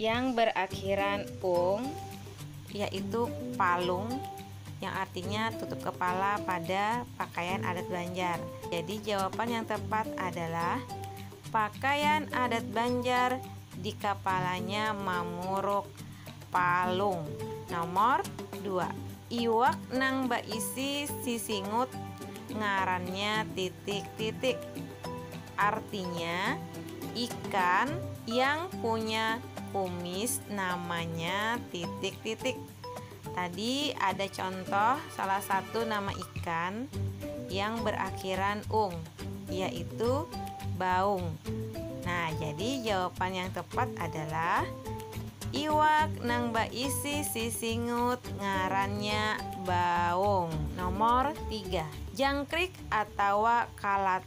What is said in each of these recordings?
yang berakhiran ung yaitu palung yang artinya tutup kepala pada pakaian adat Banjar. Jadi jawaban yang tepat adalah pakaian adat Banjar di kepalanya mamuruk palung. Nomor 2. Iwak nang baisi sisingut ngarannya titik-titik. Artinya, ikan yang punya kumis namanya titik-titik. Tadi ada contoh salah satu nama ikan yang berakhiran ung, yaitu baung. Nah, jadi jawaban yang tepat adalah iwak nang baisi sisingut ngarannya baung. Nomor tiga, jangkrik atawa kalat.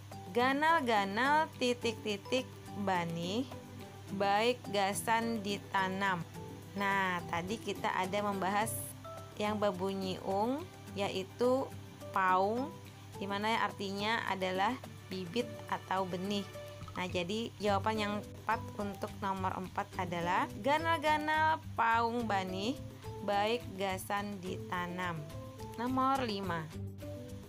Ganal-ganal titik-titik banih baik gasan ditanam. Nah, tadi kita ada membahas yang berbunyi ung yaitu paung di mana artinya adalah bibit atau benih. Nah, jadi jawaban yang tepat untuk nomor 4 adalah ganal-ganal paung banih baik gasan ditanam. Nomor 5.